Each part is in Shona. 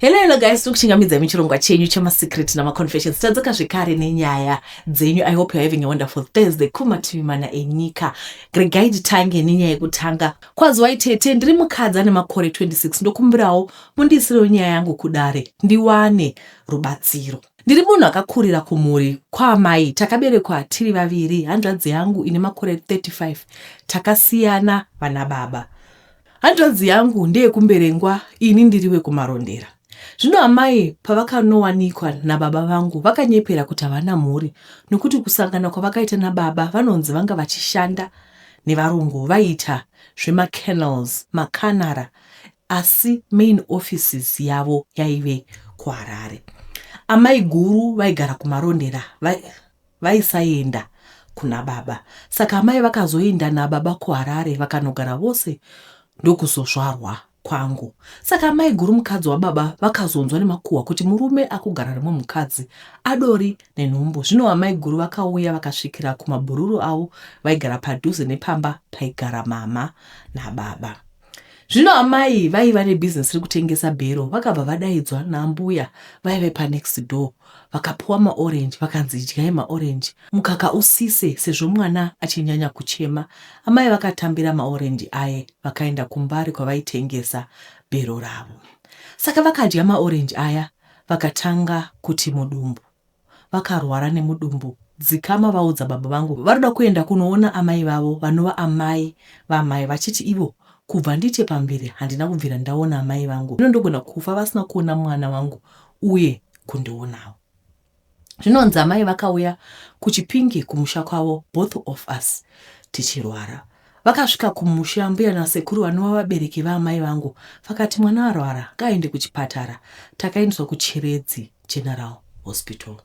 Hello, hello guys, tiri kuchingamidza imi chirongwa chenyu chemasecret namaconfessions tadzoka zvekare nenyaya dzenyu. I hope you're having a wonderful Thursday kumativi mana enyika. Regai titange nenyaya yekutanga. Kwaziwai tete, ndiri mukadzi ane makore 26 ndokumbirawo mundiisirewo nyaya yangu kudare ndiwane rubatsiro. Ndiri munhu akakurira kumhuri kwaamai, takaberekwa tiri vaviri. Hanzvadzi yangu ine makore 35 takasiyana vana baba. Hanzvadzi yangu ndeyekumberengwa ini ndiri wekumarondera. Zvino amai pavakanowanikwa nababa vangu vakanyepera kuti havana mhuri nokuti kusangana kwavakaita nababa vanonzi vanga vachishanda nevarungu vaiita zvemacanals, makanara asi main offices yavo yaive kuHarare. Amai guru vaigara kumarondera vai. Vaisaenda Kuna baba saka amai vakazoinda nababa kuHarare vakanogara vose ndokuzozvarwa kwangu saka amai guru mukadzi wababa vakazonzwa nemakuhwa kuti murume akugara rimwe mukadzi adori nenhumbu zvino amai guru vakauya vakasvikira kumabhururu avo vaigara padhuze nepamba paigara mama nababa Zvino amai vaiva nebusiness rekutengesa bhero vakabva vadaidzwa naambuya vaive panext door vakapiwa maorange vakanzi idyai maorange mukaka usise sezvo mwana achinyanya kuchema. Amai vakatambira maorange aye vakaenda kuMbare kwavaitengesa bhero ravo. Saka vakadya maorange aya vakatanga kuti mudumbu. vakarwara nemudumbu. Dzikama vaudza baba vangu varikuda kuenda kunoona amai vavo vanova amai vaamai vachiti ivo kubva ndiite pamberi handina kubvira ndaona amai vangu zvino ndogona kufa vasina kuona mwana wangu uye kundionawo. Zvinonzi amai vakauya kuChipinge kumusha kwavo both of us tichirwara. Vakasvika kumusha ambuya nasekuru vanova vabereki vaamai vangu vakati mwana arwara ngaaende kuchipatara. Takaendeswa kuChiredzi. General Hospital.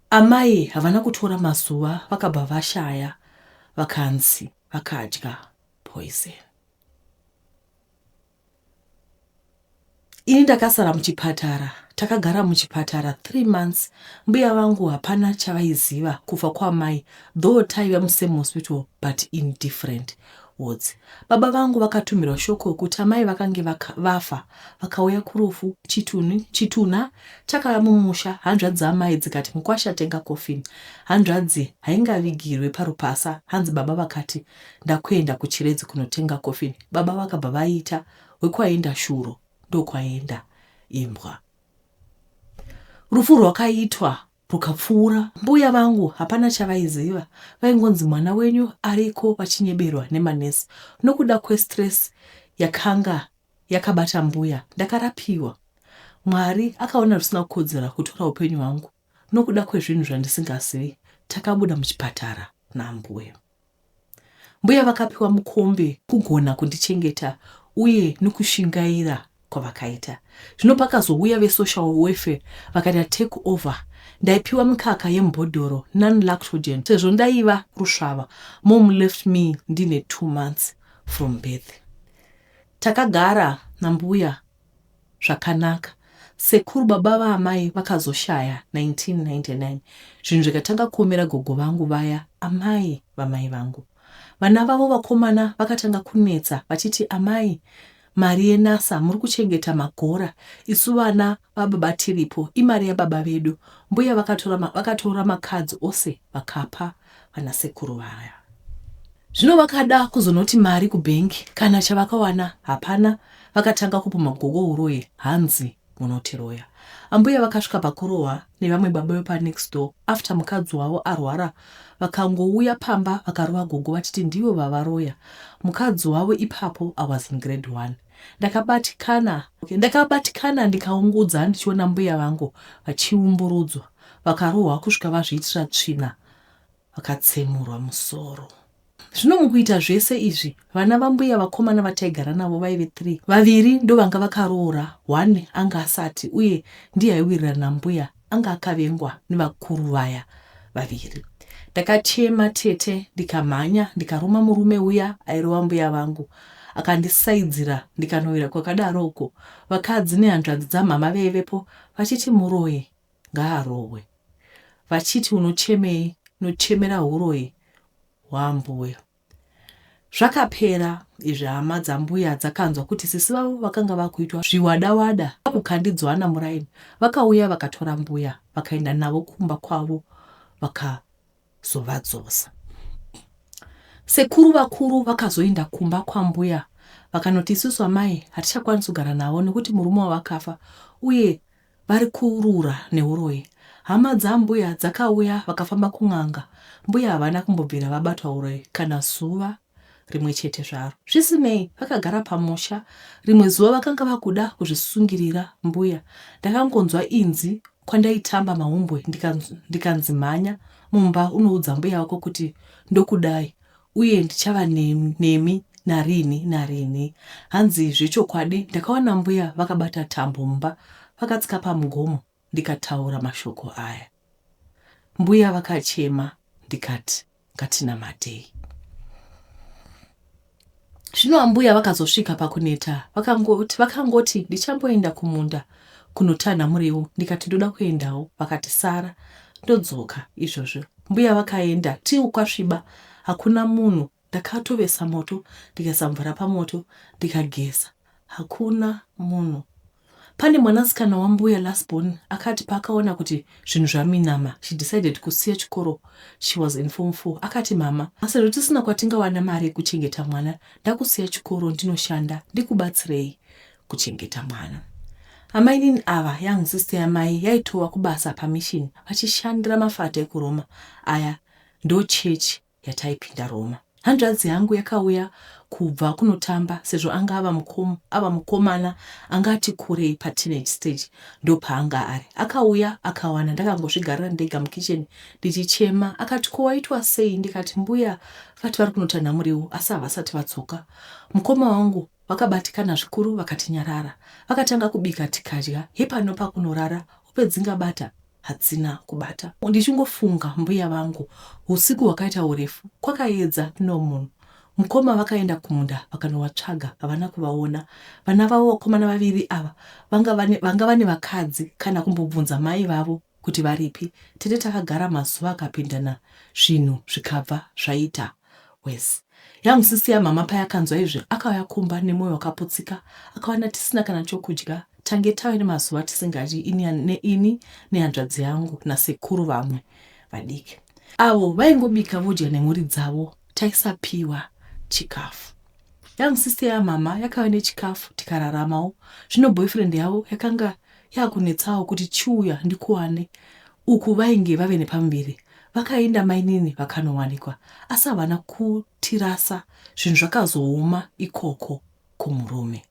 Amai havana kutora mazuva vakabva vashaya vakanzi vakadya poison. Ini ndakasara muchipatara, takagara muchipatara three months. Mbuya vangu hapana chavaiziva kufa kwaamai though taive musame hospital but in different. Woods. Baba vangu vakatumirwa shoko rokuti amai vakange vafa vakauya kurufu chitunhu, chitunha chakava mumusha hanzvadzi dzaamai dzikati mukwasha atenga coffin hanzvadzi haingavigirwe parupasa hanzi baba vakati ndakuenda kuChiredzi kunotenga coffin baba vakabva vaita wekwaenda shuro ndokwaenda imbwa. Rufu rwakaitwa Rwukapfuura. Mbuya vangu hapana chavaiziva vaingonzi mwana wenyu ariko vachinyeberwa nemanurse nokuda kwestress yakanga yakabata mbuya ndakarapiwa. Mwari akaona zvisina kukodzera kutora hupenyu hwangu nokuda kwezvinhu zvandisingazivi takabuda muchipatara nambuya. Mbuya vakapiwa mukombe kugona kundichengeta uye nokushingaira kwavakaita. Zvino pakazouya vesocial welfare vakaita take over ndaipiwa mikaka yemubhodhoro non-lactogen sezvo ndaiva rusvava. Mom left me ndine two months from birth. Takagara nambuya zvakanaka sekuru baba vaamai vakazoshaya 1999 zvinhu zvikatanga kuomera gogo vangu vaya amai vamai vangu vana vavo vakomana vakatanga kunetsa vachiti amai mari yenasa muri kuchengeta magora isu vana vababa tiripo imari yababa vedu mbuya vakatora, vakatora makadzi ose vakapa vana sekuru vaya. Zvino vakada kuzonoti mari kubank kana chavakawana hapana vakatanga kupumha gogo uroyi hanzi munotiroya. Ambuya vakasvika pakurohwa nevamwe baba vepa next door after mukadzi wavo arwara vakangouya pamba vakarova gogo vachiti ndivo vavaroya mukadzi wavo ipapo I was in grade one. Ndakabatikana ndakabatikana ndikaungudza ndichiona mbuya vangu vachiumburudzwa vakarohwa kusvika vazviitira tsvina vakatsemurwa musoro. Zvino mukuita zvese izvi vana vambuya vakomana vataigara navo vaive three. Vaviri ndovanga vakaroora one anga asati uye ndiye aiwirirana nambuya anga akavengwa nevakuru vaya vaviri. Ndakachema tete ndikamhanya ndikaruma murume uya airova mbuya vangu akandisaidzira ndikanowira kwakadaro uko vakadzi nehanzvadzi dzamhama veivepo vachiti muroyi ngaarohwe vachiti unochemei nochemera huroyi hwaambuya. Zvakapera izvi hama dzambuya dzakanzwa kuti sisi vavo vakanga vakuitwa zviwada wada kwakukandidzwana muraini vakauya vakatora mbuya vakaenda navo kumba kwavo vakazovadzosa. Sekuru vakuru vakazoenda kumba kwambuya vakanoti isusu amai hatichakwanisi kugara navo nekuti murume wavakafa uye vari kurura neuroyi hama dzambuya dzakauya vakafamba kun'anga mbuya havana kumbobvira vabatwa uroyi kana zuva rimwe chete zvaro zvisinei vakagara pamusha rimwe zuva vakanga vakuda kuzvisungirira mbuya ndakangonzwa inzi kwandaitamba mahumbwe ndikanzi mhanya mumba unoudza mbuya wako kuti ndokudai Uye ndichava nemi, nemi narini narini. Hanzi zvechokwadi ndakaona mbuya vakabata tambo mumba vakatsika pamugomo ndikataura mashoko aya. Mbuya vakachema ndikati ngatinamatei. Zvino ambuya vakazosvika pakuneta vakangoti vakangoti ndichamboenda kumunda kunotanha muriwo ndikati ndoda kuendawo vakati sara ndodzoka izvozvo mbuya vakaenda tiu kwasviba hakuna munhu ndakatovesa moto ndikaisa mvura pamoto ndikageza hakuna munhu Pane mwanasikana wambuya last born akati paakaona kuti zvinhu zvaminama she decided kusiya chikoro she was in form four akati mama sezvo tisina kwatingawana mari yekuchengeta mwana ndakusiya chikoro ndinoshanda ndikubatsirei kuchengeta mwana. Amainini ava young sister yamai yaitowa kubasa pamission vachishandira mafata ekuRoma aya ndochechi yataipinda Roma. Hanzvadzi yangu yakauya kubva kunotamba sezvo anga ava mukom, ava mukomana anga ati kurei pateenage stage ndopaanga ari. Akauya akawana ndakangozvigarira ndega mukitchen ndichichema akati ko waitwa sei ndikati mbuya vati vari kunotanha muriwo asi havasati vadzoka. Mukoma wangu vakabatikana zvikuru vakati nyarara. Vakatanga kubika tikadya hepano pakunorara hope dzingabata hadzina kubata. Ndichingofunga mbuya vangu husiku hwakaita hurefu kwakaedza no munhu. Mukoma vakaenda kumunda vakanovatsvaga havana kuvaona. Vana vavo vakomana vaviri ava vanga vane, vanga vane vakadzi kana kumbobvunza mai vavo kuti varipi. Tete takagara mazuva akapindana zvinhu zvikabva zvaita. worse yangu sisi yamama payakanzwa izvi akauya kumba nemoyo wakaputsika akawana tisina kana chokudya tange tave nemazuva tisingadyi ini neini nehanzvadzi yangu nasekuru vamwe vadiki avo vaingobika vodya nemhuri dzavo taisapiwa chikafu yangu sisi yamama yakave nechikafu tikararamawo zvino boyfriend yavo yakanga Yakunetsawo kuti chiuya ndikuwane uku vainge vave nepamuviri vakaenda mainini vakanowanikwa asi havana kutirasa zvinhu zvakazooma ikoko kumurume.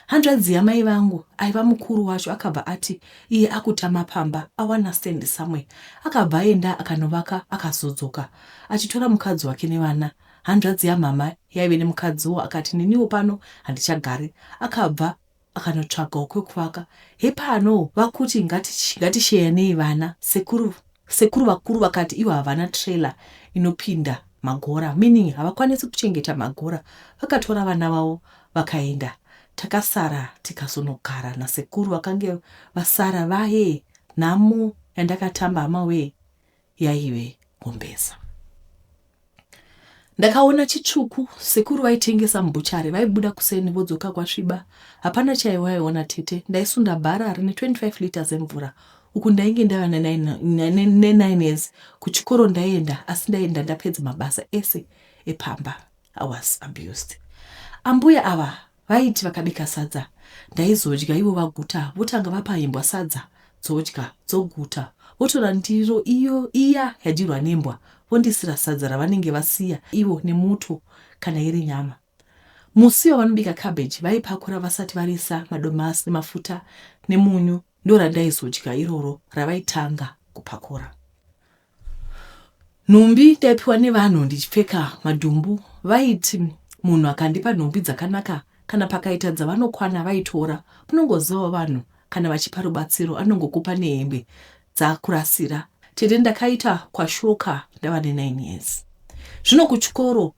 Hanzvadzi yamai vangu aiva mukuru wacho akabva ati iye akutama pamba awana stand somewhere akabva aenda akanovaka akazodzoka achitora mukadzi wake nevana hanzvadzi yamhamha yaive nemukadziwo akati neniwo pano handichagari akabva akanotsvagawo kwekuvaka hepano vakuti ngatisheyanei vana sekuru sekuru vakuru vakati ivo havana trailer inopinda magora meaning havakwanisi kuchengeta magora vakatora vana vavo vakaenda takasara tikazonogara nasekuru vakange vasara vaye nhamo yandakatamba hama wee yaive kumbesa ndakaona chitsvuku sekuru vaitengesa mubhuchari vaibuda kuseni vodzoka kwasviba hapana chaiwaiona tete ndaisunda bhara rine 25 liters emvura uku ndainge ndava ne9 years kuchikoro ndaienda asi ndaienda ndapedza mabasa ese epamba i was abused ambuya ava Vaiti vakabika sadza ndaizodya ivo vaguta votanga vapa imbwa sadza dzodya dzoguta votora ndiro iyo iya yadyirwa nembwa vondisira sadza ravanenge vasiya ivo nemuto kana iri nyama. Musi wavanobika cabbage vaipakura vasati variisa madomasi nemafuta nemunyu ndorandaizodya iroro ravaitanga kupakura. nhumbi taipiwa nevanhu ndichipfeka madhumbu vaiti munhu akandipa nhumbi dzakanaka kana pakaita dzavanokwana vaitora munongozivawo vanhu kana vachipa rubatsiro anongokupa nehembe dzakurasira tete ndakaita kwashoka ndava ne9 years zvino kuchikoro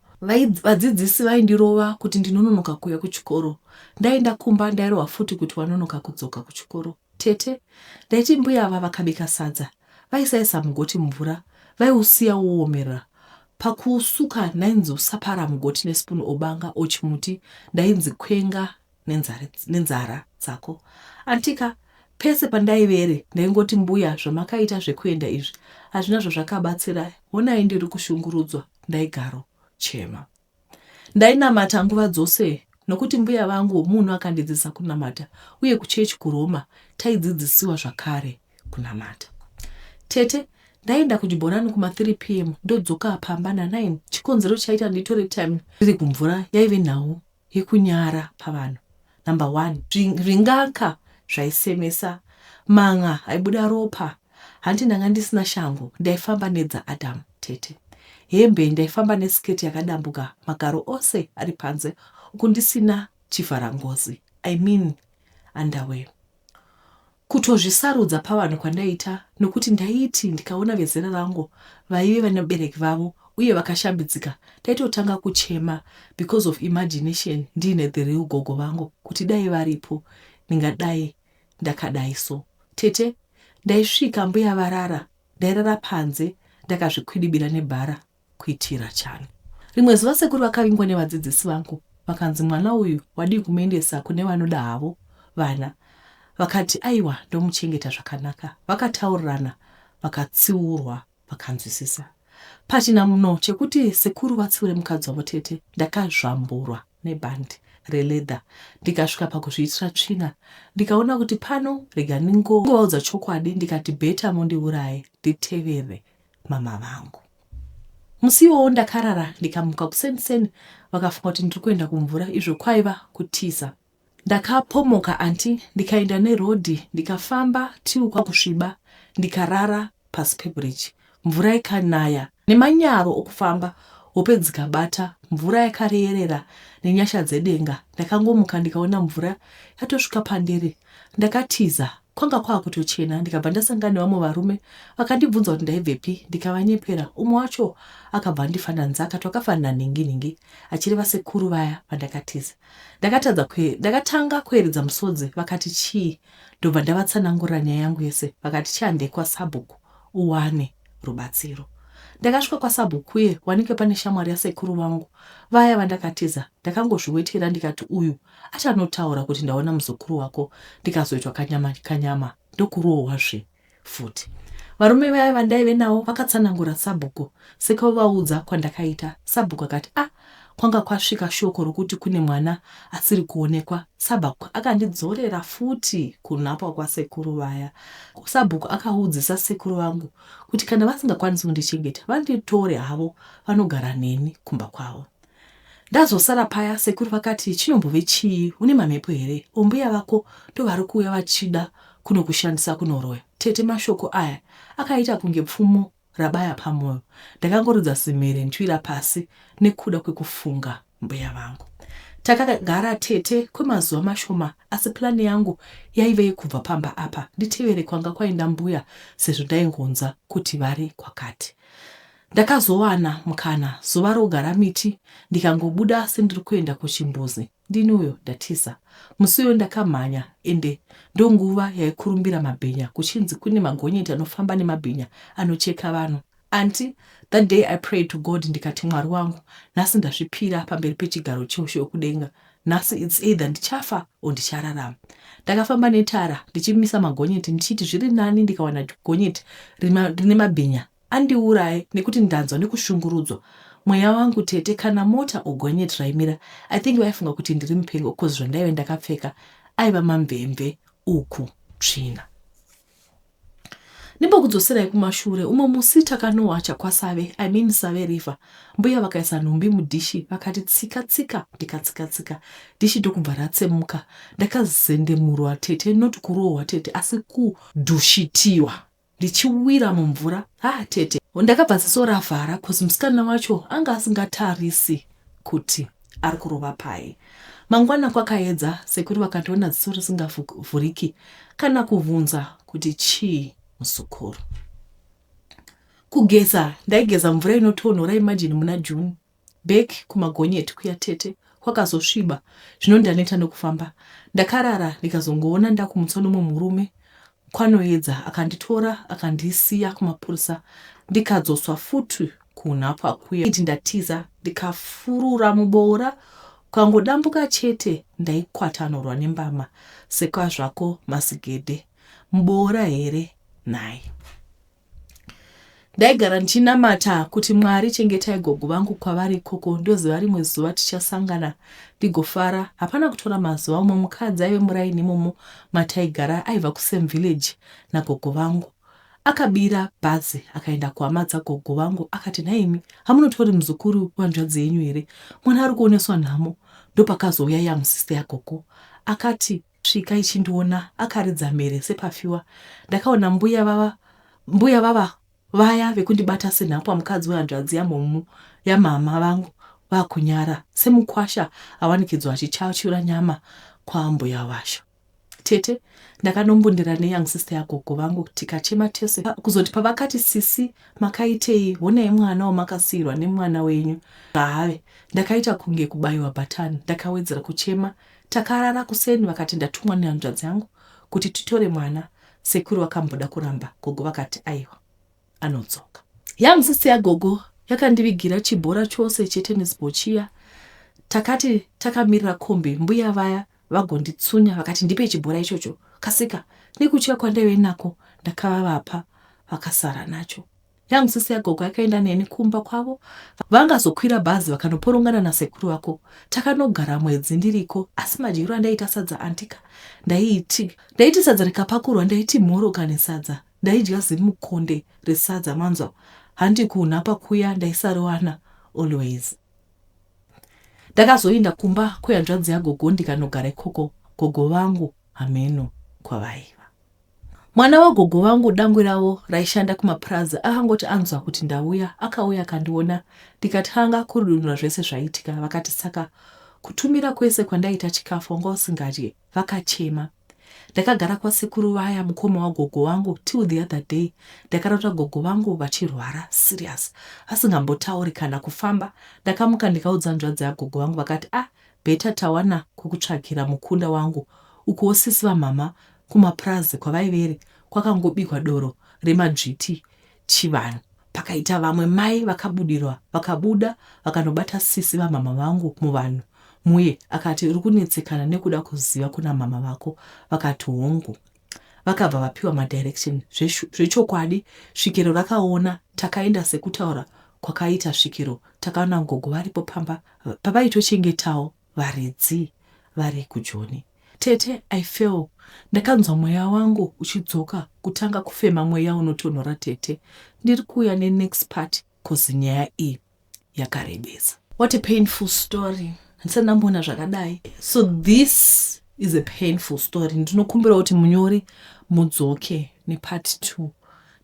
vadzidzisi vaindirova kuti ndinononoka kuuya kuchikoro ndaenda kumba ndairova futi kuti wanonoka kudzoka kuchikoro Tete, ndaiti mbuya ava vakabika sadza vaisaisa mugoti mvura vaiusiya woomerera. Pakuusuka ndainzi usapara mugoti nespoon obanga or chimuti ndainzi kwenga nenzara, nenzara dzako antika. Pese pandaivere ndaingoti mbuya zvamakaita zvekuenda izvi hazvina zvazvakabatsira honai ndiri kushungurudzwa ndaigaro chema. Ndainamata nguva dzose nokuti mbuya vangu munhu akandidzidzisa kunamata uye kuchechi kuRoma taidzidzisiwa zvakare kunamata. Tete, Ndaienda kuchibhorani kuma 3 pm ndodzoka pamba na 9. Chikonzero chaita nditore time riri kumvura yaive nhau yekunyara pavanhu. number one ringaka zvaisemesa man'a aibuda ropa hanti ndanga ndisina shangu ndaifamba nedza adam tete hembe ndaifamba nesiketi yakadambuka magaro ose ari panze uku ndisina chivharangozi i mean underwear Kutozvisarudza pavanhu kwandaiita nokuti ndaiti ndikaona vezera rangu vaive vane vabereki vavo uye vakashambidzika ndaitotanga kuchema because of imagination ndiine the real gogo vangu kuti dai varipo ndingadai ndakadai so. Tete ndaisvika mbuya varara ndairara panze ndakazvikwidibira nebhara kuitira chani. Rimwe zuva sekuru vakavingwa nevadzidzisi vangu vakanzi mwana uyu wadii kumuendesa kune vanoda havo vana vakati aiwa ndomuchengeta zvakanaka vakataurirana vakatsiurwa vakanzwisisa pachina muno chekuti sekuru vatsiure mukadzi wavo tete ndakazvamburwa nebhandi reledha ndikasvika pakuzviitira tsvina ndikaona kuti pano rega ndingovaudza chokwadi ndikati beta mondiuraye nditevere mama vangu musi iwowo ndakarara ndikamuka kuseni seni vakafunga kuti ndiri kuenda kumvura izvo kwaiva kutiza ndakapomoka anti ndikaenda nerodhi ndikafamba tiu kwakusviba ndikarara pasi pebridge mvura ikanaya nemanyaro okufamba hope dzikabata mvura yakareyerera nenyasha dzedenga ndakangomuka ndikaona mvura yatosvika pandiri ndakatiza Kwanga kwakutochena ndikabva ndasangana nevamwe varume vakandibvunza kuti ndaibvepi ndikavanyepera umwe wacho akabva andifanira nzaka twakafanira nhingi nhingi achireva sekuru vaya vandakatiza. Ndakatadza kue, ndakatanga kueredza musodzi vakati chii ndobva ndavatsanangurira nyaya yangu yese vakati chiandei kwasabhuku uwane rubatsiro. Ndakasvika kwasabhuku uye wanike pane shamwari yasekuru vangu vaya vandakatiza ndakangozviwetera ndikati uyu achanotaura kuti ndaona muzukuru wako ndikazoitwa kanyama kanyama ndokurohwa zve futi varume vaya vandaive navo vakatsanangura sabhuku sekauvaudza kwandakaita sabhuku akati ah kwanga kwasvika shoko rokuti kune mwana asiri kuonekwa sabhuku akandidzorera futi kunhapwa kwasekuru vaya sabhuku akaudzisa sekuru vangu kuti kana vasingakwanisi kundichengeta vanditore havo vanogara neni kumba kwavo Ndazosara paya sekuru vakati chinombove chii une mamhepo here or mbuya vako ndovarikuuya vachida kunokushandisa kunoroya tete mashoko aya akaita kunge pfumo rabaya pamoyo ndakangoridza zimhere ndyira pasi nekuda kwekufunga mbuya vangu takagara tete kwemazuva mashoma asi plani yangu yaive yekubva pamba apa nditevere kwanga kwaenda mbuya sezvo ndaingonza kuti vari kwakati Ndakazowana mukana zuva rogara miti ndikangobuda sendiri kuenda kuchimbuzi ndini uyo ndatiza. Musi uyo ndakamhanya ende ndonguva yaikurumbira mabhinya kuchinzi kune magonyeti anofamba nemabhinya anocheka vanhu. Anti that day I prayed to God ndikati Mwari wangu nhasi ndazvipira pamberi pechigaro cheushe wekudenga nhasi it's either ndichafa or ndichararama. Ndakafamba netara ndichimisa magonyeti ndichiti zviri nani ndikawana gonyeti rine mabhinya Andiuraye nekuti ndanzwa nekushungurudzwa mweya wangu tete kana mota or gonyeti raimira I think vaifunga kuti ndiri mupengo coz zvandaive ndakapfeka aiva mamvemve uku tsvina. Ndimbokudzoserai kumashure umwe musi takanowacha kwaSave I mean Save River mbuya vakaisa nhumbi mudhishi vakati tsika tsika ndikatsika tsika dhishi ndokubva ratsemuka ndakazendemurwa tete not kurohwa tete asi kudhushitiwa ndichiwira mumvura haa tete ndakabva ziso ravhara cause musikana wacho anga asingatarisi kuti ari kurova paye mangwana kwakaedza sekuru vakandiona ziso risingavhuriki kana kuvhunza kuti chii musukuru kugeza ndaigeza mvura inotonhora imajini muna june Back kumagonyeti kuya tete kwakazosviba zvino ndaneta nekufamba ndakarara ndikazongoona ndakumutswa nomwe murume kwanoedza akanditora akandisiya kumapurisa ndikadzoswa futi kunhapwa kuya iti ndatiza ndikafurura muboora kwangodambuka chete ndaikwatanurwa nembama sekwazvako masigede muboora here nhai Ndaigara ndichinamata kuti Mwari chengetai gogo vangu kwavari ikoko ndoziva rimwe zuva tichasangana ndigofara. Hapana kutora mazuva umwe mukadzi aive muraini imomo mataigara aiva kusame village nagogo vangu. Akabira bhazi akaenda kuhama dzagogo vangu akati nhaimi hamunotori muzukuru wanzvadzi yenyu here mwana ari kuoneswa nhamo ndopakazouya young sister yagogo akati Svika ichindiona akaridza mhere sepafiwa ndakaona mbuya vava mbuya vava vaya vekundibata senhapwa mukadzi wehanzvadzi yamhomu yamhamha vangu vakunyara semukwasha awanikidzwa achichachura nyama kwaambuya vasho tete ndakanombundira neyoung sister yagogo vangu tikachema tese kuzoti pavakati sisi makaitei honai mwana wamakasiirwa nemwana wenyu haave ndakaita kunge kubayiwa bhatani ndakawedzera kuchema Takarara kuseni vakati ndatumwa nehanzvadzi yangu kuti titore mwana sekuru vakamboda kuramba gogo vakati aiwa anodzoka. Young sister yagogo yakandivigira chibhora chose chetennis ball chiya. Takati takamirira kombi mbuya vaya vagonditsunya vakati ndipe chibhora ichocho kasika nekutya kwandaive nako ndakavavapa vakasara nacho. Yangu sisi yagogo yakaenda neni kumba kwavo vangazokwira bhazi vakanoporongana nasekuru vako takanogara mwedzi ndiriko asi madyiro andaiita sadza antika ndaiti ndaiti sadza rikapakurwa ndaiti mhoro kane sadza ndaidya zimukonde resadza manzwa handi kunhapa kuya ndaisariwana always ndakazoinda kumba kwehanzvadzi yagogo ndikanogara ikoko gogo vangu hameno kwavaiva Mwana wagogo vangu dangwe ravo raishanda kumapurazi akangoti anzwa kuti ndauya akauya akandiona ndikatanga kurudunura zvese zvaiitika vakati saka kutumira kwese kwandaita chikafu wanga usingadye vakachema ndakagara kwasekuru vaya mukoma wagogo wangu till the other day ndakarota gogo vangu vachirwara serious vasingambotauri kana kufamba ndakamuka ndikaudza nzvadzi yagogo vangu vakati ah beta tawana kwekutsvagira mukunda wangu ukuwo sisi vamama Kumapurazi kwavaivere kwakangobikwa doro remadzviti chivanhu pakaita vamwe mai vakabudirwa vakabuda vakanobata sisi vamhamha vangu muvanhu muye akati uri kunetsekana nekuda kuziva kuna mhamha vako vakati hongu vakabva vapiwa madirection zvechokwadi svikiro rakaona takaenda sekutaura kwakaita svikiro takaona gogo varipo pamba pavaitochengetawo varidzi vari kujoni. Tete I fell ndakanzwa mweya wangu uchidzoka kutanga kufema mweya unotonhora tete ndiri kuuya ne next part coz nyaya iyi yakarebesa. What a painful story handisati ndamboona zvakadai so this is a painful story ndinokumbira kuti munyori mudzoke nepart two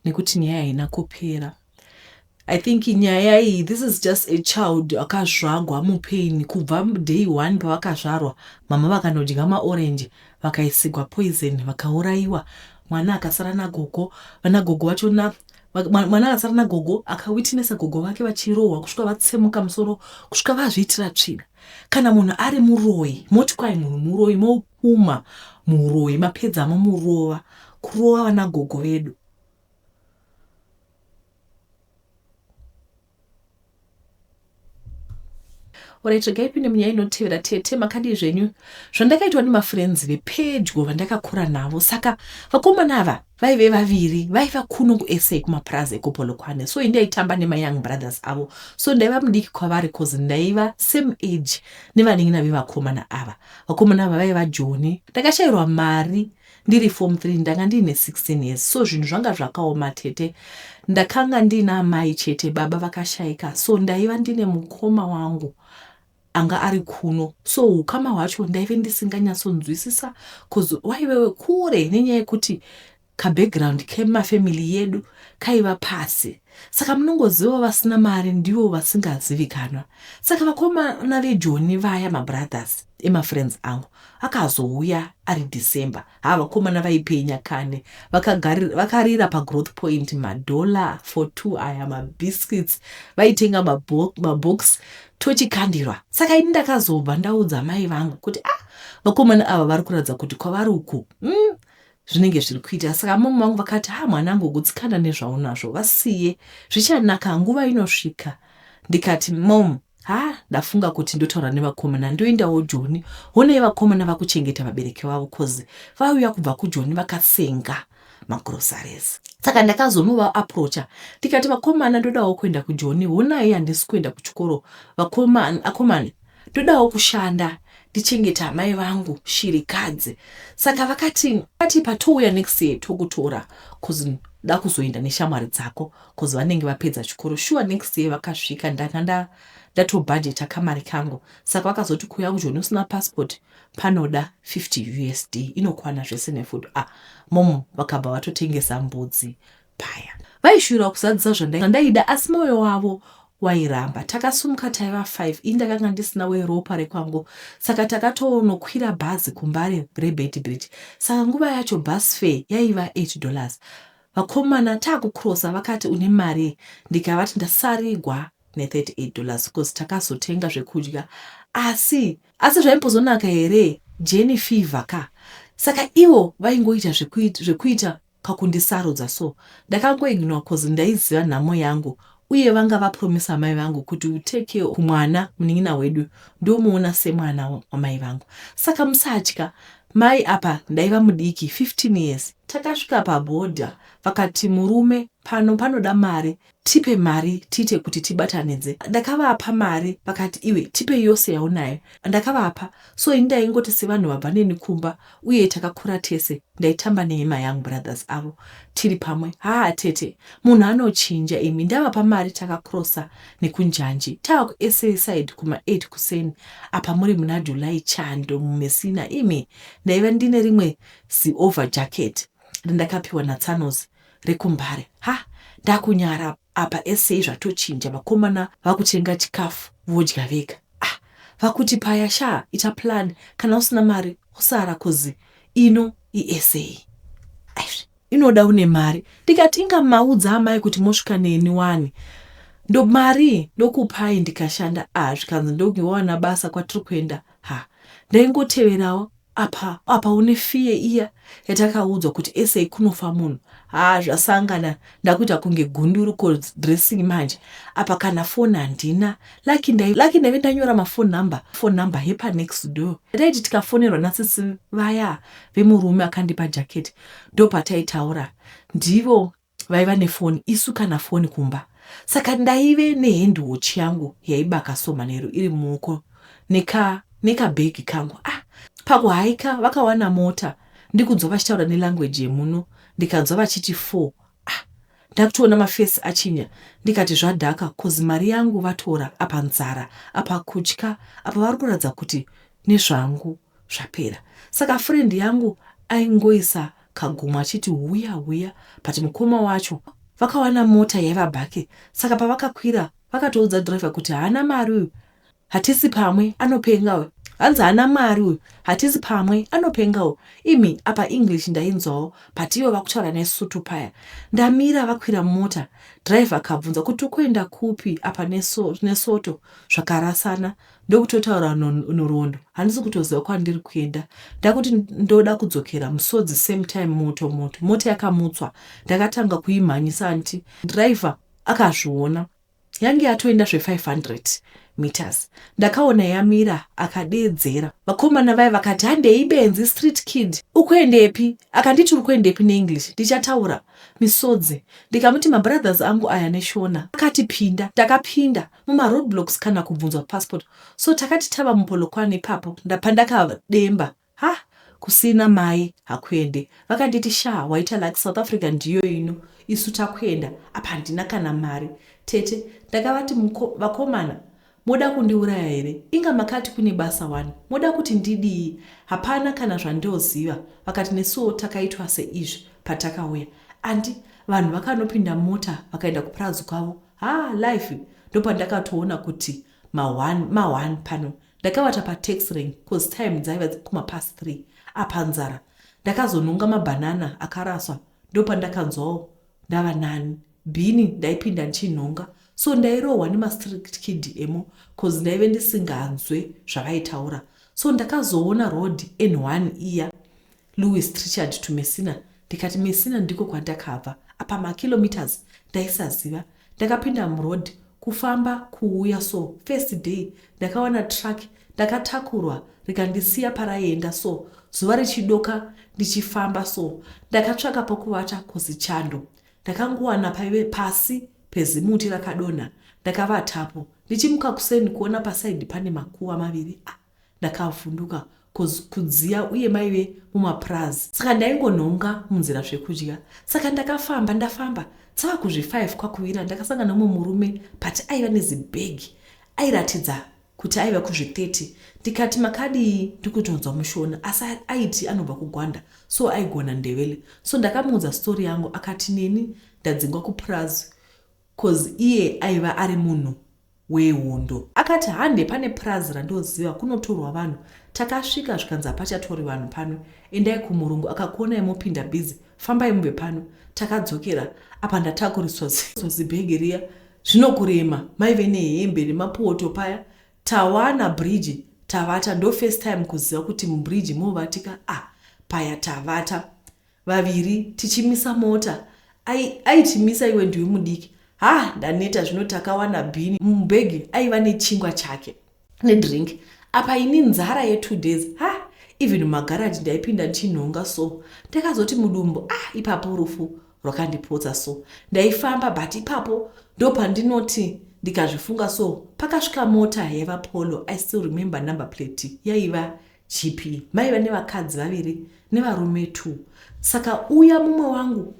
nekuti nyaya haina kupera. I think nyaya iyi this is just a child akazvagwa mupain kubva day one pavakazvarwa mama vakanodya maorange vakaisigwa poison vakaurayiwa mwana akasara nagogo vanagogo vacho na mwana akasara nagogo akawitnesa gogo vake vachirohwa kusvika vatsemuka musoro kusvika vazviitira tsvina kana munhu ari muroyi moti kwai munhu muroyi mopuma muroyi mapedzamo murova kurova vanagogo vedu orit regai pinde munyaya inotevera tete makadii zvenyu zvandakaitwa nemafrenzi vepedyo vandakakura navo saka vakomana ava vaive vaviri vaiva kuno kusa kumapurazi ekupolokwane so indaitamba nemayoung brothers avo so ndaiva mudiki kwavari cause ndaiva same age nevanin'ina vevakomana ava vakomana ava vaiva joni ndakashairwa mari Ndiri form three ndanga ndiine 16 years so zvinhu zvanga zvakaoma tete. Ndakanga ndiine amai chete baba vakashaika so ndaiva ndine mukoma wangu anga ari kuno so ukama hwacho ndaive ndisinganyatsonzwisisa bcoz waivewe kure nenyaya yekuti kabackground kemafamily yedu kaiva pasi Saka munongoziva vasina mari ndivo vasingazivikanwa. Saka vakomana vejoni vaya mabrothers emafriends angu akazouya ari December. Ha vakomana vaipenya kani. Vakagari, vakarira pagrowth point madollar for two aya mabiscuits vaitenga mabox, mabox tochikandirwa. Saka ini ndakazobva ndaudza mai vangu kuti ah vakomana ava vari kuratidza kuti kwavari uku mm, zvinenge zviri kuita saka amama vangu vakati ha mwanangu gutsikana nezvaunazvo vasiye zvichanaka nguva inosvika ndikati mom ha ndafunga kuti ndotaura nevakomana ndoendawo joni honei vakomana vakuchengeta vabereki vavo coz vauya kubva kujoni vakasenga magrosaries saka ndakazonova aproacha ndikati vakomana ndodawo kuenda kujoni honai handisi kuenda kuchikoro vakomana Ndodawo kushanda ndichengete amai vangu shirikadzi saka vakati vati patouya next year tokutora bcoz da kuzoenda neshamwari dzako bcoz vanenge vapedza chikoro shuwa next year vakasvika ndanga nda ndatobhajeta kamari kangu saka vakazoti kuuya kujoni usina passport panoda 50 usd inokwana zvese nefood a ah, mom vakabva vatotengesa mbudzi paya. Vaishuvira kuzadzisa zvandaida asi moyo wavo wairamba. Takasumuka taiva five, ini ndakanga ndisina weropa rekwangu saka takatonokwira bhazi kumbare reBeitbridge saka nguva yacho bus fare yaiva eight dollars. Vakomana takucrossa vakati une mari ndikavati ndasarigwa ne38 dollars because takazotenga zvekudya asi asi zvaimbozonaka here jeni fever ka saka ivo vaingoita zvekuita pakundisarudza so ndakango ignore coz ndaiziva nhamo yangu uye vanga vapromiser mai vangu kuti will take care of mwana munin'ina wedu ndomuona semwana wamai vangu saka musatya mai apa ndaiva mudiki 15 years. Takasvika paborder vakati murume pano panoda mari tipe mari tiite kuti tibatanidze ndakavapa mari vakati iwe tipe yose yaunayo ndakavapa so ini ndaingoti sevanhu vabva neni kumba uye takakura tese ndaitamba neima young brothers avo tiri pamwe haa tete munhu anochinja imi ndavapa mari takakrosa nekunjanji tava kusa side kuma 8 kuseni apa muri muna july chando mumesina imi ndaiva ndine rimwe ziover jacket randakapiwa natsanozi rekumbare ha ndakunyara apa essay zvatochinja vakomana vakutenga chikafu vodya vega ah vakuti paya shaa ita plan kana usina mari usara cuz ino iessay aizvi inoda une mari ndikati inga maudza amai kuti mosvika neni wani ndo mari ndokupai ndikashanda ah zvikanzi ndokuwana basa kwatiri kuenda ha ndaingoteverawo Apa apa une fear iya yatakaudzwa kuti SA kunofa munhu haa zvasangana ndakuita kunge gunduru ko dressing manje apa kana phone handina lucky ndai lucky ndaive ndanyora ma phone number phone number hepa next door yataiti tikafonerwa nasisi vaya vemurume akandipa jacket ndopataitaura ndivo vaiva nefoni isu kana foni kumba saka ndaive nehandwatch yangu yaibaka so manheru iri muoko neka nekabhegi kangu ah pakuhaika vakawana mota ndikunzwa vachitaura nelanguage yemuno ndikanzwa vachiti four ah ndakutoona mafesi achinya ndikati zvadhaka cause mari yangu vatora apa nzara apa kutya apa vari kuratidza kuti nezvangu zvapera saka friend yangu aingoisa kagumo achiti huya huya but mukoma wacho vakawana mota yaiva bhake saka pavakakwira vakatoudza driver kuti haana mari uyu hatisi pamwe anopenga uyu hanzi haana mari uyu hatisi pamwe anopenga uyu imi apa english ndainzwawo but ivo vakutaura nesutu paya ndamira vakwira mota driver akabvunza kuti ukuenda kupi apa neso, nesoto zvakarasana ndokutotaura no, norwondo handisi kutoziva kwandiri kuenda ndakuti ndoda kudzokera musodzi same time moto moto mota yakamutswa ndakatanga kuimhanyisa anti driver akazviona yange yatoenda zve500 meters ndakaona yamira akadeedzera vakomana vaye vakati handei benzi street kid ukuendepi akanditi uri kuendepi neenglish ndichataura misodzi ndikamuti mabrothers angu aya neshona akatipinda takapinda muma road blocks kana kubvunzwa passport so takati tava muPolokwane ipapo ndabva ndakademba hah kusina mai hakuende vakanditi shaa waita luck South Africa ndiyo ino isu takuenda apa handina kana mari tete ndakavati muko, vakomana moda kundiuraya here inga makati kune basa wani moda kuti ndidii hapana kana zvandioziva vakati nesuwo takaitwa seizvi patakauya andi vanhu vakanopinda mota vakaenda kupurazi kwavo Haa life ndopandakatoona kuti ma one ma one pano ndakavata pa tax rank coz time dzaiva dzikuma past three apa nzara ndakazonhonga ma banana akaraswa ndopandakanzwawo ndava nani bhini ndaipinda ndichinhonga so ndairohwa nema strict kid emo coz ndaive ndisinganzwe zvavaitaura so ndakazoona road n1 iya Louis Trichard to Messina ndikati Messina ndiko kwandakabva apa ma kilometres ndaisaziva ndakapinda muroad kufamba kuuya so first day ndakawana truck ndakatakurwa rikandisiya paraienda so zuva richidoka ndichifamba so ndakatsvaka pokuvata coz chando ndakangowana paive pasi pezimuti rakadonha ndakavatapo ndichimuka kuseni kuona paside pane makuva maviri ah. Ndakavhunduka coz kudziya uye maive mumapraz saka ndaingonhonga munzira zvekudya saka ndakafamba ndafamba tsava kuzvi 5 kwakuvira ndakasangana umwe murume but aiva nezibag airatidza kuti aiva kuzvi 30 ndikati makadii ndikutonzwa mushona asi aiti anobva kugwanda so aigona ndevele so ndakamuudza story yangu akati neni ndadzingwa kupraz coz iye aiva ari munhu wehondo. Akati hande pane purazi randoziva kunotorwa vanhu takasvika zvikanzi hapachatori vanhu pano endai kumurungu akakuonai mopinda busy fambai mubve pano takadzokera apa ndatakuriswa zibhegi riya zvinokurema maive nehembe nemapoto paya tawana bridge tavata ndo first time kuziva kuti mubridge movatika ah paya tavata vaviri tichimisa mota ai aitimisa iwe ndiwe mudiki haa ndaneta zvino takawana bhini mubhegi aiva nechingwa chake nedrink apa ini nzara yetwo days ha even mumagaraji ndaipinda ndichinhonga so ndakazoti mudumbu ah ipapo rufu rwakandipotsa so ndaifamba but ipapo ndopandinoti ndikazvifunga so pakasvika mota yaiva polo i still remember number plate yaiva Chipi? Maiva nevakadzi vaviri nevarume two saka uya mumwe wangu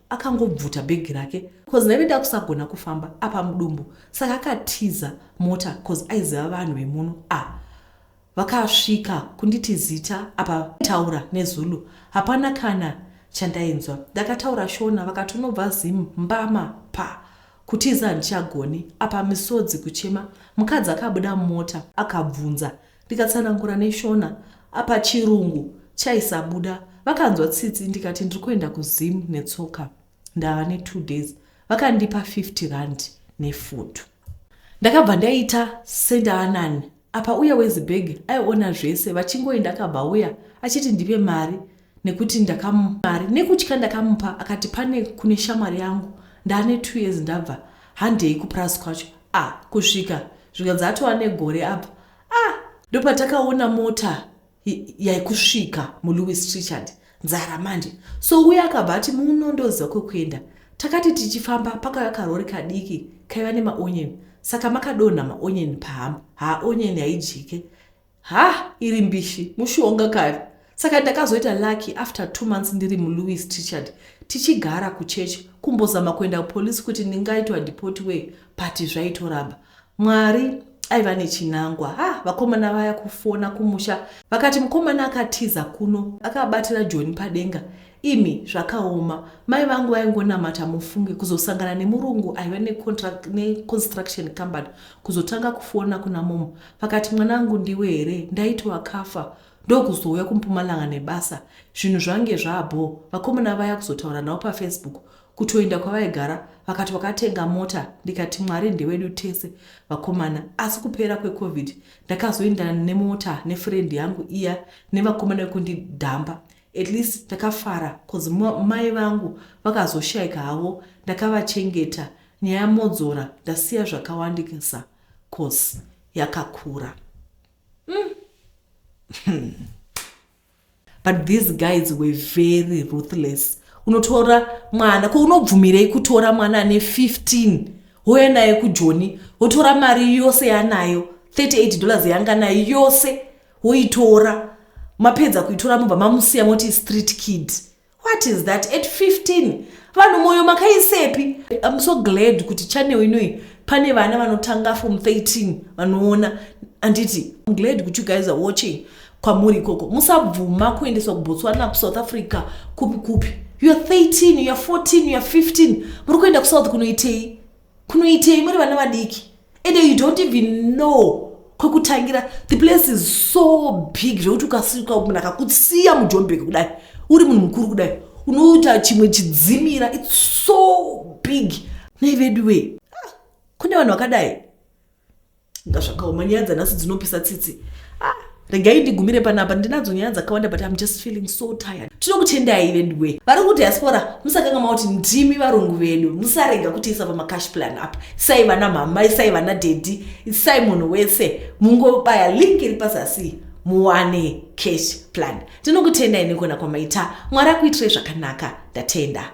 akangobvuta aka bhegi rake bcause ndaive ndakusagona kufamba apa mudumbu saka akatiza mota bcause aiziva vanhu vemuno a ah, vakasvika kunditi zita apa taura nezulu hapana kana chandainzwa ndakataura shona vakatonobva zim mbama pa kutiza handichagoni apa misodzi kuchema mukadzi akabuda mumota akabvunza Ndikatsanangura neshona apa chirungu chaisabuda. Vakanzwa tsitsi ndikati ndiri kuenda kuZim netsoka ndava netwo days. Vakandipa 50 rand nefood. Ndakabva ndaita sendaanani apa uya wezibhegi aiona zvese vachingoenda akabva auya achiti ndipe mari nekuti ndakamari nekutya ndakamupa akati pane kune shamwari yangu ndaane two years ndabva handei kupras kwacho a ah, kusvika zvika dzatova negore apa a ah, ndopatakaona mota yaikusvika mulewis richard nzara manje so uye akabva ati muno ndoziva kwekuenda takati tichifamba pakauya karori kadiki kaiva nemaonyeni saka makadonha maonyeni pahamba haaonyeni haidyike Hah iri mbishi mushonga kare. Saka ndakazoita lucky after two months ndiri muLouis Trichard tichigara kuchurch kumbozama kuenda kupolice kuti ndingaitwa deport wei but zvaitoramba. Mwari aiva nechinangwa. Ha vakomana vaya kufona kumusha vakati mukomana akatiza kuno akabatira Joni padenga. Imi zvakaoma. Mai vangu vaingonamata mufunge kuzosangana nemurungu aiva necontract neconstruction company kuzotanga kufona kuna mom Vakati mwanangu ndiwe here ndaiti wakafa ndokuzouya kumpumalanga nebasa zvinhu zvange zvaabho vakomana vaya kuzotaura navo pafacebook kutoenda kwavaigara vakati wakatenga mota ndikati mwari ndewedu tese vakomana asi kupera kwecovid ndakazoindana nemota nefrendi yangu iya nevakomana vekundidhamba at least ndakafara bcause mai vangu vakazoshaika havo ndakavachengeta nyaya modzora ndasiya zvakawandikisa coz yakakura umm but these guys were very ruthless unotora mwana ko unobvumirei kutora mwana ane 15 houya naye kujoni wotora mari yose yanayo 38 dollars yanga nayo yose woitora mapedza kuitora mobva mamusiya moti street kid what is that at 15 vanhu moyo makaisepi im so glad kuti channel inoi pane vana vanotanga from 13 vanoona anditi im glad kuti you guys are watching kwamuri ikoko musabvuma kuendeswa kubotswana kusouth africa kupi kupi youare 13 youare 14 youare 15 muri kuenda kusouth kunoitei kunoitei muri vana vadiki and you don't even know kwekutangira the place is so big zvekuti ukasika munhu akakusiya mujombeki kudai uri munhu mukuru kudai unoita chimwe chidzimira its so big nei veduwee ah, kune vanhu vakadai nga zvakaoma nyaya dzanhasi dzinopisa tsitsi ah, regai ndigumire panapa ndinadzo nyaya dzakawanda but im just feeling so tired tinokutendai veduwe vari kudiaspora musakanga mauti ndimi varungu vedu musarega kutiisa pamacash plan apa isai vana mhamai isai vana dedi isai munhu wese mungobaya link iri pazasi muwane cash plan tinokutendai nekona kwamaita mwari akuitirai zvakanaka ndatenda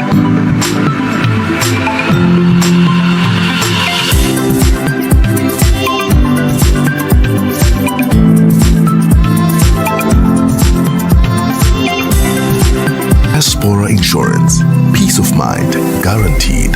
Diaspora Insurance. Peace of mind guaranteed.